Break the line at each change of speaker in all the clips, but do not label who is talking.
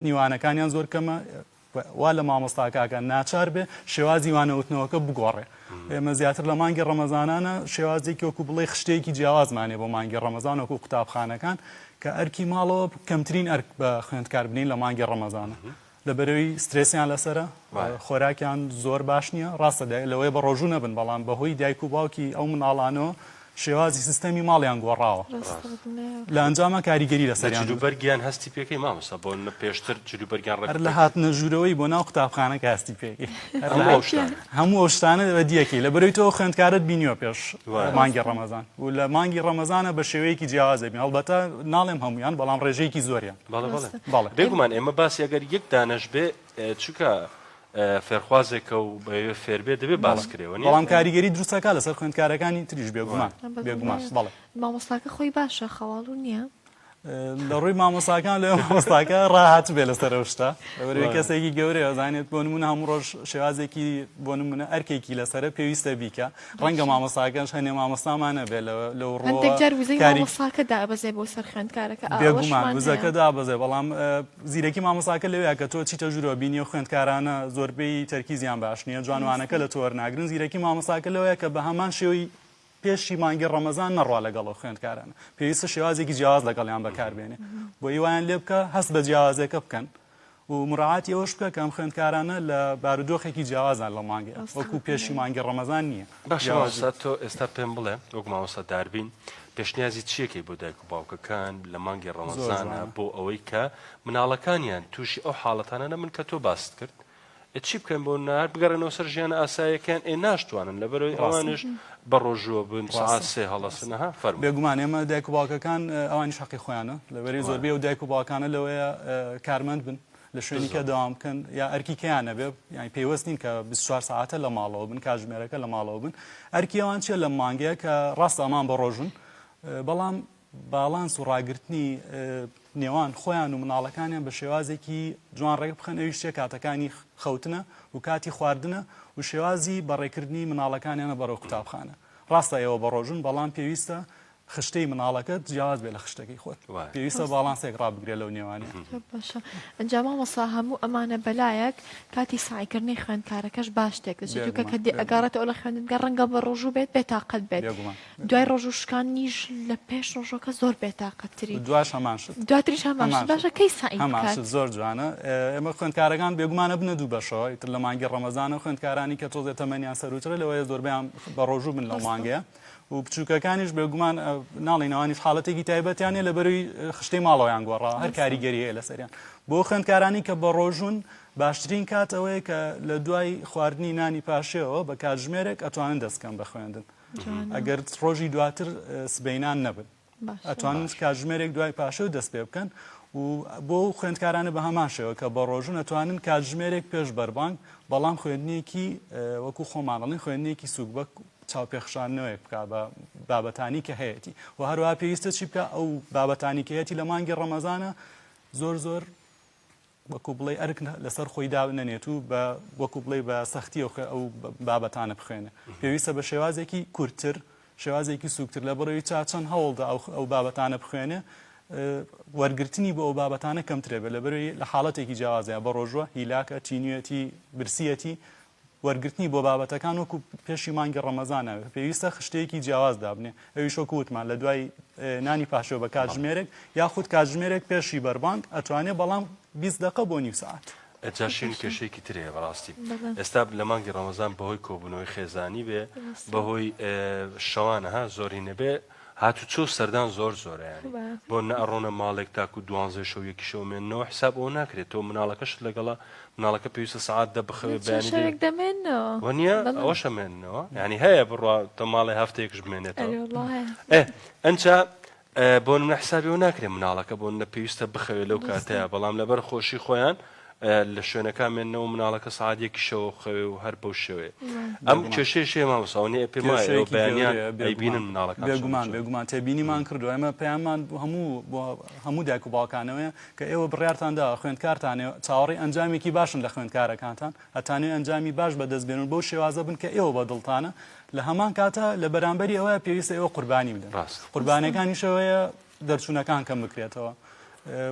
وانەکانیان زۆر کەمە وا لە مامۆستا کاکە ناچار بێ شێوازی وانەوتنەوەکە بگۆڕێ ئێمە زیاتر لە مانگی ڕەمەزانانە شێوازێکی وەکو بڵێ خشتێکی جیاوازمانێ بۆ مانگی ڕەمەزان وەکو قوتابخانەکان کە ئەرکی ماڵەوە کەمترین ئەرک بە خوێندکار بنین لە مانگی ڕەمەزانە لە بەرەوەی سترسیان لەسرە خۆراکیان زۆر باش نییە ڕاستە لەوەی بە ڕۆژوو نەبن بەڵام بەهۆی دایک و باوکی ئەو مناڵانەوە شێوازی سیستەمی ماڵیان گۆڕاوە لە ئەنجاما کاریگەری لەسەریان جلوبەرگیان هەستی پێکەی
مامۆستا بۆ نە پێشتر جلوبەرگیان ڕەر لە هاتنە
ژوورەوەی بۆ ناو قوتابخانە کاستی پێکی هەموو ئەو شتانە بەدیەکەی لە بەرەوەی تۆ خوێندکارت بینیوە پێش مانگی ڕەمەزان و لە مانگی ڕەمەزانە بە شێوەیەکی جیاواز دەبین هەڵبەتە ناڵێم هەمویان بەڵام ڕێژەیەکی زۆریان بەڵێ بەڵێ بێگومان
ئێمە باسی ئەگەر یەک دانەش بێ چونکە فێرخوازێکە و بەوێ فێربێ دەبێ باس کرێەوە بەڵام کاریگەری
دروستەکە لەسەر خوێندکارەکانی تریش بێگومان بێگومان بەڵێ مامۆستاکە خۆی
باشە خەواڵ و نییە لە ڕووی
مامۆساکان لە مامۆستاکە ڕاهات بێ لەسەر شتا کەسێکی گەورەیە زانێت بۆ نمونە هەموو ڕۆژ شێوازێکی بۆ نمونە ئەرکێکی لەسرە پێویستە بیکە ڕەنگە مامۆساکەش هەنێ مامۆستامان نەبێ لەو ڕوەندێک جار وزەی مامۆساکە
دابەزێ بۆ سەر خوێندکارەکە بێگومان وزەکە
دابەزێ بەڵام زیرەکی مامۆساکە لەوەیە کە تۆ چیتە ژورەوە بینیە خوێندکارانە زۆربەی تەرکیزیان باش نییە جوانوانەکە لە تۆر ناگرن زیرەکی مامۆساکە لەوەیە کە بە هەمان شێوەی پێشی مانگی ڕەمەزان نەڕوا لەگەڵەوە خوێندکارانە پێویستە شێوازێکی جیاواز لەگەڵیان بەکاربێنێ بۆ هیوایان لێ بکە هەست بە جیاوازەکە بکەن و مراعاتی ئەوەش بکە کە ئەم خوێندکارانە لە بارودۆخێکی جیاوازان لەو مانگەیە وەکو پێشی مانگی ڕەمەزان نییە. باشە مامۆستا تۆ
ئێستا پێم بڵێ وەک مامۆستا داربین پێشنیازی چیەکەی بۆ دایک و باوکەکان لە مانگی ڕەمەزانە بۆ ئەوەی کە مناڵەکانیان تووشی ئەو حاڵەتانە نەبن کە تۆ باست کرد ئێ چی بکەن بۆ نار بگەڕێنەوە سەر ژیانە ئاسایەکەیان ئێ ناشتوانن لەبەرەوەی ڕاستە. ئەوانش بە ڕۆژووە بن سعات ڕاستە. سێ هەڵەسن ها فەرموو بێگومان ئێمە دایک و
باوکەکان اه، ئەوانیش حەقی خۆیانە لەبەرەی بەڵێ. زۆربەی ئەو دایک و باوکانە لەوەیە اه، کارمەند بن لە شوێنی کە بزن دەوام بکەن یا ئەرکی کەیان نەبێ یانی پەیوەست نین کە بیست و چوار سەعاتە لە ماڵەوە بن کاتژمێرەکە لە ماڵەوە بن ئەرکی ئەوان چیە لەم مانگەیە کە ڕاستە ئەمان بە ڕۆژون اه، بەڵام باڵانس و ڕاگرتنی نێوان خۆیان و مناڵەکانیان بە شێوازێکی جوان ڕێک بخەن ئەویش چێ کاتەکانی خەوتنە و کاتی خواردنە و شێوازی بەڕێکردنی مناڵەکانیانە بەڕێو قوتابخانە ڕاستە ئێوە بە ڕۆژون بەڵام پێویستە خشتەی مناڵەکەت جیاواز بێ لە خشتەکەی خۆت پێویستە باڵانسێک ڕابگرێ لەو نێوانە
ئەنجا مامەسا هەموو ئەمانە بەلایەک کاتی سایکردنی خوێندکارەکەش باش تێکەچێت کە ئەگەڕێتەوە لە خوێندنگە ڕەنگە بە ڕۆژوو بێت بێتاقەت بێت دوای ڕۆژوو شکانیش لە پێش ڕۆژۆکە زۆر بێتاقەت تری دواش هەمان شت
دواتریش هەمان
باشە کەی سایم زۆر جوانە
ئێمە خوێندکارەکان بێگومانە بنە دوو بەشەوەی تر لە مانگی ڕەمەزانە خوێندکارانی کە تۆزێ تەمەنیان سەروترە لەوەیە زۆربیان بە ڕۆژوو بن لە مانگەیە و بچووکەکانیش بێگومان ناڵینەوانیش حاڵەتێکی تایبەتیانە لە بەروی خشتەی ماڵەوەیان گۆڕا هەر کاریگەریە لەسەریان بۆ خوێندکارانی کە بە ڕۆژون باشترین کات ئەوەیە کە لە دوای خواردنی نانی پاشێەوە بە کاتژمێرێک ئەتوانن دەستکەم بە خوێندن ئەگەر ڕۆژی دواتر سبینان نەبن ئەتوانن کاتژمێرێک دوای پاشە دەست پێ بکەن و بۆ خوێندکارانە بە هەمان شێوە کە بە ڕۆژون ئەتوانن کاتژمێرێک پێش بەربانگ بەڵام خوێندنیەکی وەکو خۆمانڵین خوێندنیەکی سوکبەک چاوپێخشانەوەیەک بک بە بابەتانی کە هەیەی و هەروە پێویستە چی بکە ئەو بابەتانی کەیەتی لە مانگی ڕەمەزانە زۆر زۆر وەکو بڵێی ئەرک لەسەر خۆی دابنەنێت و بە وەکو بڵێی بە سەختیەوە ئەو بابەتانە بخوێنێ پێویستە بە شێوازێکی کورتتر شێوازێکی سوکتر لە بڕەوی چا چەند هەوڵدا ئەو بابەتانە بخوێنێ وەرگرتنی بۆ ئەو بابەتانە کەمترێ بە لە بەروی لە حاڵەتێکی جیاوازە بە ڕۆژوە هیلاکە تینویەتی برسیەتی وەرگرتنی بۆ بابەتەکان وەکو پێشی مانگی ڕەمەزانە پێویستە خشتەیەکی جیاواز دابنێ ئەویش وەکو وتمان لە دوای نانی پاشۆ بە کاتژمێرێک یاخود کاتژمێرێک پێشی بەربانگ ئەتوانێ بەڵام بیست دەقە بۆ نیو سەعات. جاشین کێشەیەکی
تر هەیە بەڕاستی ئێستا لە مانگی ڕەمەزان بەهۆی کۆبوونەوەی خێزانی بێ بەهۆی شەوانە ها زۆری نەبێ هاتوچۆو سەردان زۆر زۆرە یانی بۆ نەئەڕۆنە ماڵێک تاکو دوانزەی شەو یەکی شەو مێننەوە حساب ئەوە ناکرێت تۆ مناڵەکەشت لەگەڵە مناڵەکە پێویستە سەعات دە بخەوێ بەیانی وەنیە ئەوەشە مێننەوە ینی هەیە بڕوا تە ماڵێ هەفتەیەکش بمێنێتەوە ئەنچا بۆن نە حسابەوە ناکرێت مناڵەکە بۆن نە پێویستە بخەوێ لەو کاتەیە بەڵام لەبەر خۆشی خۆیان لە شوێنەکان مێنەوە مناڵەکە سەعات یەکی شەوە بخەوێ و هەر بەو شێوەیە ئەم کێشەیەش هەیە مامۆستا ئەوەنە ئێ پێم وایە ئێوە کێشەیەکی بەیانیان گەورەیە بێگومان ئەیبینن مناڵەکان چۆن بێگومان دەچن بێگومان تێبینیمان
کردووە ئێمە پەیاممان بۆ هەموو بۆ هەموو دایک و باوکانەوەیە کە ئێوە بڕیارتان داوە خوێندکارتانێ چاوەڕێی ئەنجامێکی باشن لە خوێندکارەکانتان هەتا نوێ ئەنجامی باش بەدەست بێنن بەو شێوازە بن کە ئێوە بە دڵتانە لە هەمان کاتە لە بەرامبەری ئەوە پێویستە ئێوە قوربانی بدەن ڕاستە مامۆستا قوربانیەکانیشەوەیە دەرچوونەکان کەم بکرێتەوە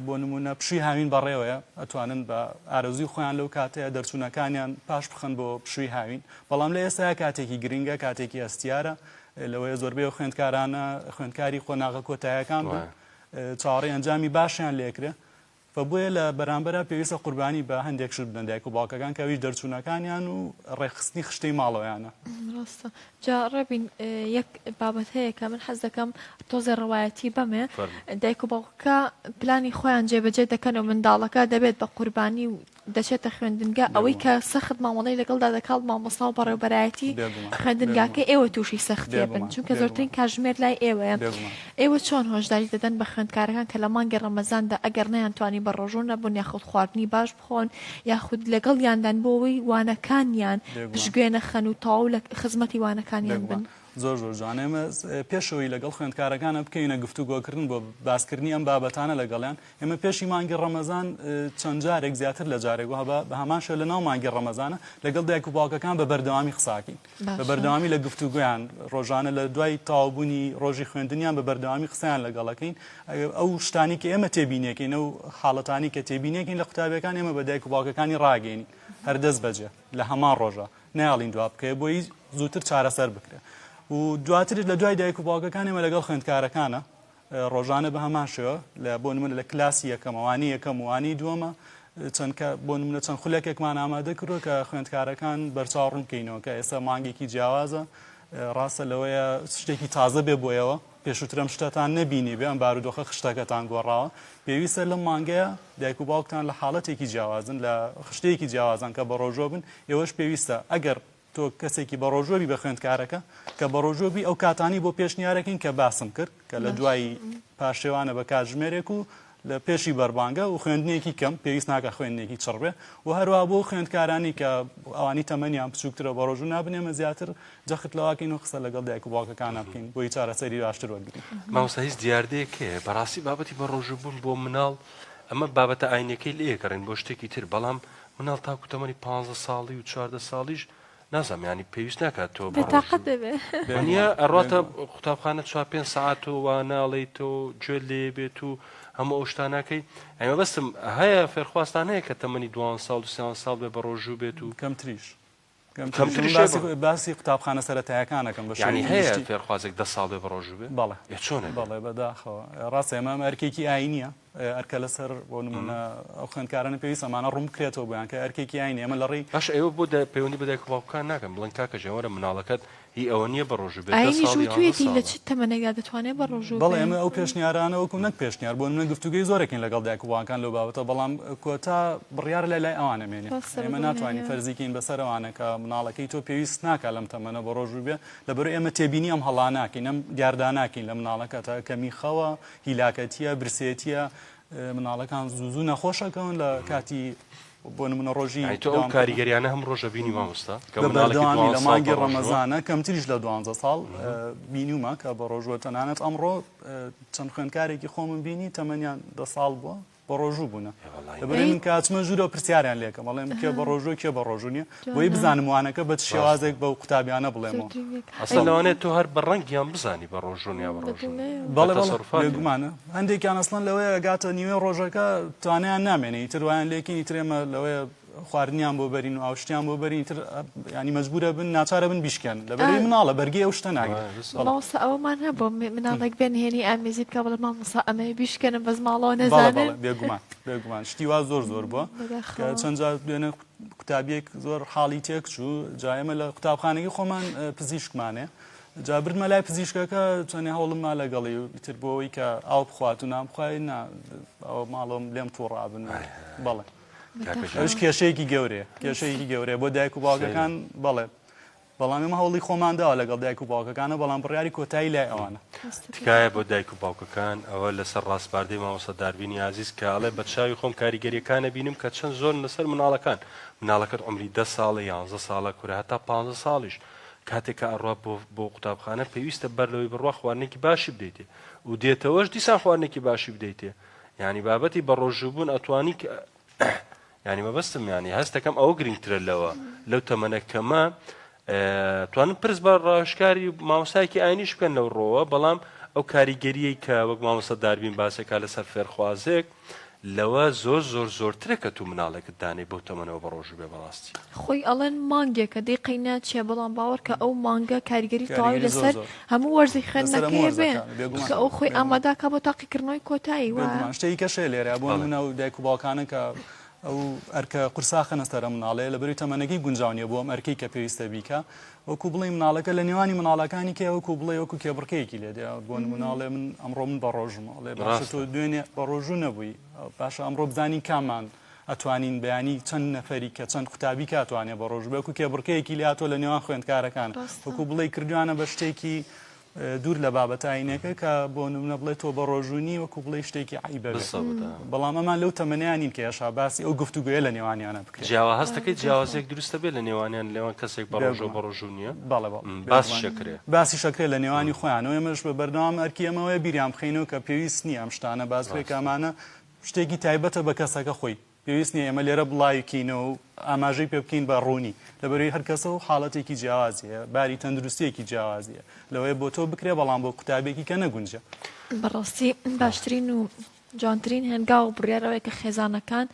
بۆ نمونە پشوی هاوین بەڕێوەیە ئەتوانن بە ئارەزوی خۆیان لەو کاتەیە دەرچوونەکانیان پاش بخن بۆ پشوی هاوین بەڵام لە ئێستا کاتێکی گرنگە کاتێکی ئەستیارە لەوەیە زۆربەی خوێندکارانە خوێندکاری قۆناغە کۆتایەکان بن چاڕی ئەنجامی باشیان لێکرێ و بۆیە لە بەرامبەرا پێویستە قوربانی بە هەندێک شت بدەن دایک و باوکەکان کە ئەویش دەرچوونەکانیان و ڕێکخستنی خشتەی ماڵەوەیانە. ڕاستە
جا ڕێبین یەک بابەت هەیە کە من حەز دەکەم تۆزێ ڕەوایەتی بەمێ فەرموو. دایک و باوکەکە پلانی خۆیان جێبەجێ دەکەن و منداڵەکە دەبێت بە قوربانی و دەچێتە خوێندنگا ئەوەی کە سەخت مامەڵەی لەگەڵدا دەکات مامۆستا و بەڕێوبەرایەتی خوێندنگاکەی ئێوە تووشی سەختیە بن چونکە زۆرترین کاژمێر لای ئێوەیە ئێوە چۆن هۆشداری دەدەن بە خوێندکارەکان کە لە مانگی ڕەمەزاندا ئەگەر نەیان توانی بە ڕۆژوو نەبن یاخود خواردنی باش بخۆن یاخود لەگەڵیاندان بۆ ئەوەی وانەکانیان پشگوێ نەخەن و تەواو لە خزمەتی وانەکانیان بن. زۆر زۆر جوان ئێمە
پێشەوەی لەگەڵ خوێندکارەکانە بکەینە گفتوگۆکردن بۆ باسکردنی ئەم بابەتانە لەگەڵیان ئێمە پێشی مانگی ڕەمەزان چەند جارێک زیاتر لە جارێک وە بە هەماشە لە ناو مانگی ڕەمەزانە لەگەڵ دایک و باوکەکان بە بەردەوامی قساکین بە بەردەوامی لە گفتوگویان ڕۆژانە لە دوای تاوبوونی ڕۆژی خوێندنیان بە بەردەوامی قسەیان لەگەڵەکەین ئەو شتانی کە ئێمە تێبینێکین و حاڵەتانی کە تێبینێکین لە قوتابەکان ئێمە بە دایک و باوکەکانی ڕاگەین هەردەست بەجێ لە هەمان ڕۆژە نایەڵین دوا بکەوێت بۆی زووتر چارەسەر بکرێت و دواتر لە دوای دایک و باوکەکان ئێمە لەگەڵ خوێندکارەکانە ڕۆژانە بە هەمان شێوە لە بۆ نمونە لە کلاسی یەکەمەوانی یەکەم وانی دووەمە چەند بۆ نمونە چەند خولەکێکمان ئامادە کردو کە خوێندکارەکان بەرچاو ڕوونکەینەوە کە ئێستا مانگێکی جیاوازە ڕاستە لەوەیە شتێکی تازە بێ بۆیەوە پێشووتر ئەم شتەتان نەبینیبێ، ئەم بارودۆخە خشتەکەتان گۆڕاوە، پێویستە لەم مانگەیە دایک و باوکتان لە حاڵەتێکی جیاوازن، لە خشتەیەکی جیاوازن کە بەڕۆژوە بن، ئێوەش پێویستە ئەگەر تۆ کەسێکی بەڕۆژوە بی بە خوێندکارەکە کە بەڕۆژوە بی ئەو کاتانەی بۆ پێشنیارەکەین کە باسم کرد کە لە دوای پارشێوانە بە کاتژمێرێک و لە پێشی بەربانگە و خوێندنێکی کەم پێویست ناکا خوێندنێکی چڕ بێ و هەروەها بۆ خوێندکارانی کە ئەوانی تەمەنیان بچووکترە بە ڕۆژوو نابن ئێمە زیاتر جەخت لەواکەین و قسە لەگەڵ دایک و باوکەکانە بکەین بۆی چارەسەری باشتر وەرگرین مامۆستا هیچ دیاردەیەک
هەیە بەڕاستی بابەتی بە ڕۆژوو بوون بۆ مناڵ ئەمە بابەتە ئاینەکەی لێ گەڕین بۆ شتێکی تر بەڵام مناڵ تاکو تەمەنی 15 ساڵی و 14 ساڵیش نازانم یانی پێویست ناکات تۆ بە ڕۆژ بێتاقەت دەبێ
وەنیە بێگومان ئەڕاتە
بێگومان قوتابخانە چوار پێنج سەعات و وا ناڵێیت و گوێت لێ بێت و هەموو ئەو شتانە ناکەی ئەی مەبەستم هەیە فێرخوازتان هەیە کە تەمەنی دوان ساڵ و سێان ساڵ بێ بە ڕۆژوو بێت و کەمتریش کەمتریش
من کەمتریش هەیە باسی بە باسی قوتابخانە سەرەتایەکان ئەکەم بە یانی شێوەی هەیە گشتی فێرخوازێک
دە ساڵ بێ بە ڕۆژوو بێ بەڵێ ئێ چۆنە بێ بەڵێ بەداخەوە
ڕاستە ئەمە ئەمە ئەرکێکی ئاینییە ئەرکە لەسەر بۆ نمونە ئەو خوێندکارانە پێویست ئەمانە ڕوون بکرێتەوە بۆیان کە ئەرکێکی ئاینی ئەمە لە ڕێی باشە ئێوە بۆ پەیوەندی
بە دایک و باوکەکان ناکەن بڵێن کاکە جیان وەرە مناڵەکەت هی ئەوە نییە بە ڕۆژوو بێت دە ساڵ
یان دە ساڵە. بەڵێ ئەمە ئەو پێشنیارانە
وەکو نەک پێشنیار بۆ نمونە گفتوگۆی زۆرەکەین لەگەڵ دایک و باوکان لەو بابەتە بەڵام کۆتا بڕیارە لای لای ئەوانە مێنێ ئێمە ناتوانین فەرزی کەین بەسەر ئەوانە کە مناڵەکەی تۆ پێویست ناکا لەم تەمەنە بە ڕۆژوو بێ لەبەرئێمە تێبینی ئەم هەڵانە ناکەین ئەم دیاردانە ناکەین لە مناڵەکەتە کەمی خەوە هیلاکەتیە برسێتیە مناڵەکان زوو زوو نەخۆشەکەون لە کاتی بۆ نمونە ڕۆژی کاریگەریانە
هەم ڕۆژە بینی مامۆستا لە
مانگی ڕەمەزانە کەمتریش لە دوانزە ساڵ بینیومە کە بە ڕۆژوە تەنانەت ئەمڕۆ چەند خوێندکارێکی خۆمن بینی تەمەنیان دە ساڵ بووە بەڕۆژوو بوونە دەبێت من کاتمە ژوورەوە پرسیاریان لێکەم بەڵێم کێ بەڕۆژوو کێ بەڕۆژوو نیە بۆی بزانم وانەکە بە شێوازێک بە قوتابیانە بڵێمەوە ئەسڵەوانێت
تۆ هەر بە ڕەنگیان بزانی بە ڕۆژونیا بەڕۆژمانە
هەندێکیان ئەسڵەن لەوەیە گاتە نیوێ ڕۆژەکە توانیان نامێنێ تروایان لێکینی ترێمە لەوەیە خواردنیان بۆ بەرین و ئاوشتیان بۆ بەرین تر ینی مەجبورە بن ناچارە بن بیشکێن لەبەری مناڵە بەرگی ئەو شتە ناگرێتسا ئەومان هەبوو
مناڵێک بێن هێنی ئامێزی بکە بڵێ مامۆسا ئەمە بیشکێنم بەس ماڵەوە نەزانێت بێگومان بێگومان
شتی وا زۆر زۆر بووە چەند جار دوێنە قوتابیەک زۆر حاڵی تێک چوو جایمە لە قوتابخانەکە خۆمان پزیشکمانێ. جا بردمە لای پزیشکەکە چەنێ هەوڵم ما لەگەڵی و ئیتر بۆەوەی کە ئاو بخوات و نامخوای نا ئەو ماڵۆم لێم تووڕابن بەڵێ. ئەوش کێشەیەکی گەورەیە کێشەیەکی گەورەیە بۆ دایک و باوکەکان بەڵێ بەڵام ئێمە هەوڵی خۆمان داوا لەگەڵ دایک و باوکەکانە بەڵام بڕیاری کۆتایی لای ئەوانە تکایە بۆ دایک
و باوکەکان ئەوە لەسەر ڕاستپاردەی مامۆستا داربینی عزیز کە ئەڵێ بە چاوی خۆم کاریگەریەکانە بینم کە چەند زۆر لەسەر مناڵەکان مناڵەکەت عمری ده ساڵە یانزە ساڵە کورە هەتا پ ساڵیش کاتێک کە ئەڕوا بۆ بۆ قوتابخانە پێویستە بەر لەوەی بڕوا خواردنێکی باشی بدەیتێ و دێتەوەش دیسان خواردنێکی باشی بدەیتێ یانی بابەتی بەڕۆژووبوون ئەتوانی ینی مەبەستم ینی هەستەکەم ئەوە گرنگترە لەوە لەو تەمەە کەمە توانم پرس بە ڕاشکاری ماوسایکی ئاینیش بکەن لەو ڕۆوە بەڵام ئەو کاریگەریە کە وەک مامۆستا داربین باسەکە لەسەر فێرخوازێک لەوە زۆر زۆر زۆرترە کە تو مناڵێکت دانەی بۆ تەمەەوە بە ڕۆژ بێ بەڕاستی خۆی ئەڵەن
مانگێکە دەی قەی ناچێ بەڵام باوەڕکە ئەو مانگە کاریگەری تەواوی لەسەر هەموو وەرزی خوێندنەکەی بێ قسە ئەو خۆی ئاماداکە بۆ تاقیکردنەوەی کۆتایی وە شتێکی کەشێ لێرە بۆ
منە و دایک و باوکانە کە ئەو ئەرکە قورساخەنە سەرە مناڵێ لە بەری تەمەەنەکەی گونجاونیە بۆ ئەم ئەرکەی کە پێویستە بیکە وەکو بڵێ مناڵەکە لە نێوانی مناڵەکانی کە وەکو بڵێ وەکو کێبڕکەیەکی لێ دێ بۆ مناڵێ من ئەمڕۆ من بە ڕۆژمەڵێ باشە تۆ دوێنێ بە ڕۆژوو نەبووی باشە ئەمڕۆ بزانین کامان ئەتوانین بەیانی چەند نەفەری کە چەند قوتابی کاتوانێ بە ڕۆژ بەکو کێبڕکەیەکی لاتۆ لە نێوان خوێندکارەکان وەکو بڵێ کردویانە بە شتێکی دوور لە بابەت ئاینەکە کە بۆ نمونە بڵێت تۆ بە ڕۆژوونی وەکو بڵێ شتێکی عیبە بەڵام ئەمان لەو تەمەنیانین کە یاشا باسی ئەو گفتوگوێ لە نێوانیانە بکرێت جیاوا هەستەکەی جیاوازێک
دروستە بێت لە نێوانیان لەوان کەسێک بە ڕۆژۆ بە ڕۆژوونیە بەڵێ باس شەکرێ باسی شەکرێ لە نێوانی خۆیانەوە ئێمەش بە بەردەوام ئەرکی ئەمەوەی بیریان بخینەوە کە پێویست نییە ئەم شتانە باسێکامانە شتێکی تایبەتە بە کەسەکە خۆی، پێویست نییە ئێمە لێرە بڵاویکەینەوە و ئاماژەی پێ بکەین بە ڕوونی، لەبەروی هەر کەسە و حاڵەتێکی جیاوازی هەیە، باری تەندروستییەکی جیاوازی هەیە، لەوەیە بۆ تۆ بکرێ بەڵام بۆ قوتابێکی کە نەگونجە. بەڕاستی
باشترین و جوانترین هەنگاو و بڕیار ئەوەیە کە خێزانەکان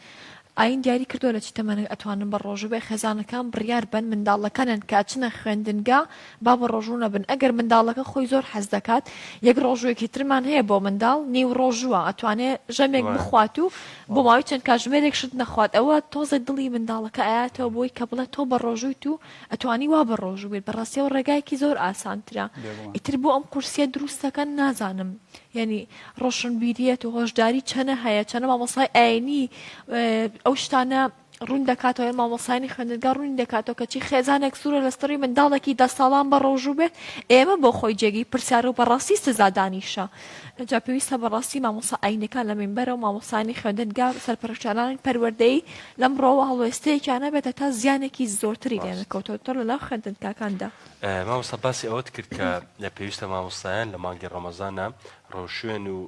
ئاین دیاری کردوە لە چ تەمەنێک ئەتوانن بە ڕۆژو بێ خێزانەکان بڕیار بەن منداڵەکانیان کە ئەچنە خوێندنگا با بە ڕۆژو نەبن ئەگەر منداڵەکە خۆی زۆر حەز دەکات یەک ڕۆژوێکی ترمان هەیە بۆ منداڵ نیو ڕۆژوە ئەتوانێ ژەمێک وایە بخوات و بۆ وایە ماوەی چەند کاتژمێرێک شت نەخوات ئەوە تۆزێ دڵی منداڵەکە ئەیاتەوە بۆی کە بڵێ تۆ بە ڕۆژوویت و ئەتوانی وا بە ڕۆژو بێت بەڕاستیەوە ڕێگایەکی زۆر ئاسانترە بێگومان ئیتر بۆ ئەم قورسیە دروستەکەن نازانم یەنی ڕۆشنبیریەت و هۆشداری چەنە هەیە چەنە مامۆسای ئاینی ئەو شتانە ڕوون دەکاتەوە مامۆسانی خوێندگە ڕوونی دەکاتەوە کەچی خێزانێک سوورە لەستڕی منداڵێکی دە ساڵان بە ڕۆژوو بێت ئێمە بۆ خۆی جێگی پرسیار و بەڕاستی سزادانیشە جا پێویستە بەڕاستی مامۆسا ئاینەکان لە مینبەرە و مامۆسانی خوێندنگە سەرپەرشتانانی پەروەردەی لەم ڕۆوە هەڵوێستەیەکیانە بێتە تا زیانێکی زۆرتری لێنەکەوتەوە تۆ لە ناو خوێندنکاکاندا مامۆستا
باسی ئەوەت کرد کە پێویستە مامۆستایان لە مانگی ڕەمەزانە ڕەوشێن و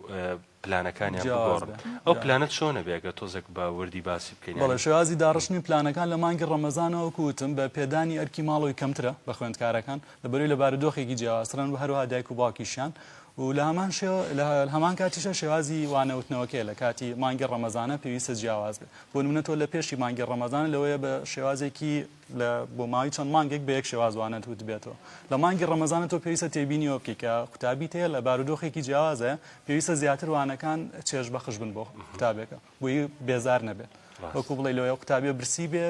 پلانەکانیان بگۆڕن ئەو پلانە چۆنە بێگە تۆزێک بە وردی باسی بکەین بەڵێ شێوازی داڕشتنی
پلانەکان لە مانگی ڕەمەزانەوە کوتم بە پێدانی ئەرکی ماڵەوەی کەمترە بە خوێندکارەکان لە بەروی لە بارودۆخێکی جیاوازترن و هەروها دایک و باوکیشیان و لە هەمان شێوە لە هەمان کاتیشە شێوازی وانەوتنەوەکەی لە کاتی مانگی ڕەمەزانە پێویستە جیاواز بێت بۆ نمونە تۆ لە پێشی مانگی ڕەمەزانە لەوەیە بە شێوازێکی لە بۆ ماوەی چەند مانگێک بە یەک شێواز وانەت وتبێتەوە. لە مانگی ڕەمەزانە تۆ پێویستە تێبینی ئەوە بکەیت کە قوتابیت هەیە لە بارودۆخێکی جیاوازە، پێویستە زیاتر وانەکان چێژبەخش بن بۆ قوتابێکە بۆی بێزار نەبێت. وەکو بڵێ لۆ ئەو قوتابیە برسی بێ،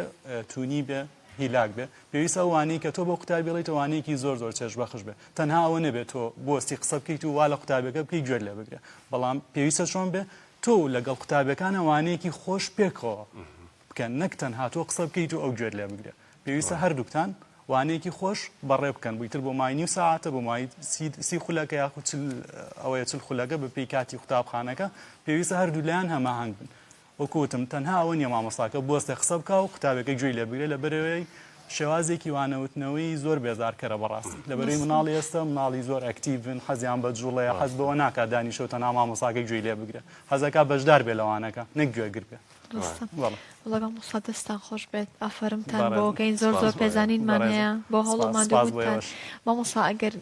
توونی بێ، هیلاک بێ. پێویستە ئەو وانەی کە تۆ بۆ قوتابی بڵێیتەوە وانەیەکی زۆر زۆر چێژبەخش بێ. تەنها ئەوە نەبێ تۆ بۆستی قسە بکەیت و وا لە قوتابێکە بکەی گوێت لێ بگرێ. بەڵام پێویستە چۆن بێ؟ تۆ و لەگەڵ قوتابێکانە وانەیەکی خۆش پێکەوە بکەن نەک تەنها تۆ قسە بکەیت و ئەو گوێت لێ بگرێ پێویستە هەردووکتان وانەیەکی خۆش بەڕێ بکەن بۆ ئیتر بۆ مای نیو ساعەتە بۆ مای سی خولەکە یاخود چل ئەوەیە چل خولەکە بە پێی کاتی قوتابخانەکە پێویستە هەردوو لایەن هەماهەنگ بن وەکوتم تەنها ئەوە نیە مامۆستاکە بۆستێ قسە بکە و قوتابەکە گوێی لێ بگرێ لە بەرەوەی شێوازێکی وانەوتنەوەی زۆر بێزارکەرە بەڕاستی لە بەرەی مناڵی ئێستا مناڵی زۆر ئەکتیڤن حەزیان بە جوڵەیە حەز بەوە ناکات دانیشەوە تەنها مامۆستاکە گوێی لێ بگرێ حەزەکە بەشدار بێ لەوانەکە نەک گوێگر بێ وڵا
موسا دەستان خۆش بێت ئافرمتان بۆگەین زۆر زۆر پێزانینمان هەیە بۆ هەوڵمان مامۆسا ئەگەر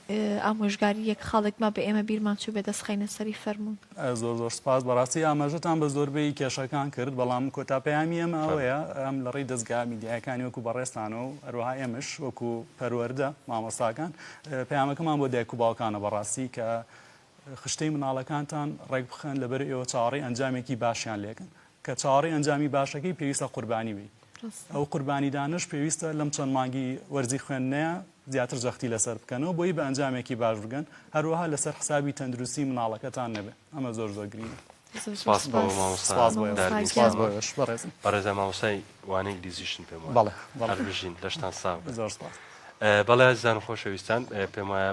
ئامۆژگاری یەک خاڵێک ما بە ئێمە بیرمان چوو بێ دەستخینە سەری فەرمونون زۆر زۆر سپاس
بەڕاستی ئاماژەتان بە زۆربەی کێشەکان کرد بەڵام کۆتا پەیامی ئەم ئەوەیە ئەم لە ڕێی دەستگا میدیایەکانی وەکو بەڕێستانە و هەروها ئێمەش وەکو پەروەەردە مامۆستاکان پەیامەکەمان بۆ دایک و باوکانە بەڕاستی کە خشتەی مناڵەکانتان ڕێکبخەن لەبەر ئێوە چاوەڕێی ئەنجامێکی باشیان لێکن کە چاوەڕێی ئەنجامی باشەکەی پێویستە قوربانی بی ئەو قوربانیدانش پێویستە لەم چەند مانگی وەرزی خوێندنەیە زیاتر جەختی لەسەر بکەنەوە بۆی بە ئەنجامێکی باش بگەن هەروەها لەسەر حسابی تەندروستی مناڵەکەتان نەبێت ئەمە زۆر زۆر گرینە
بەڕێزە مامۆسای وانەی گلیزیشن پێم بەڵێ بژین لەشتان ساغ
زۆر
بەڵێ زان خۆشەویستان
پێم وایە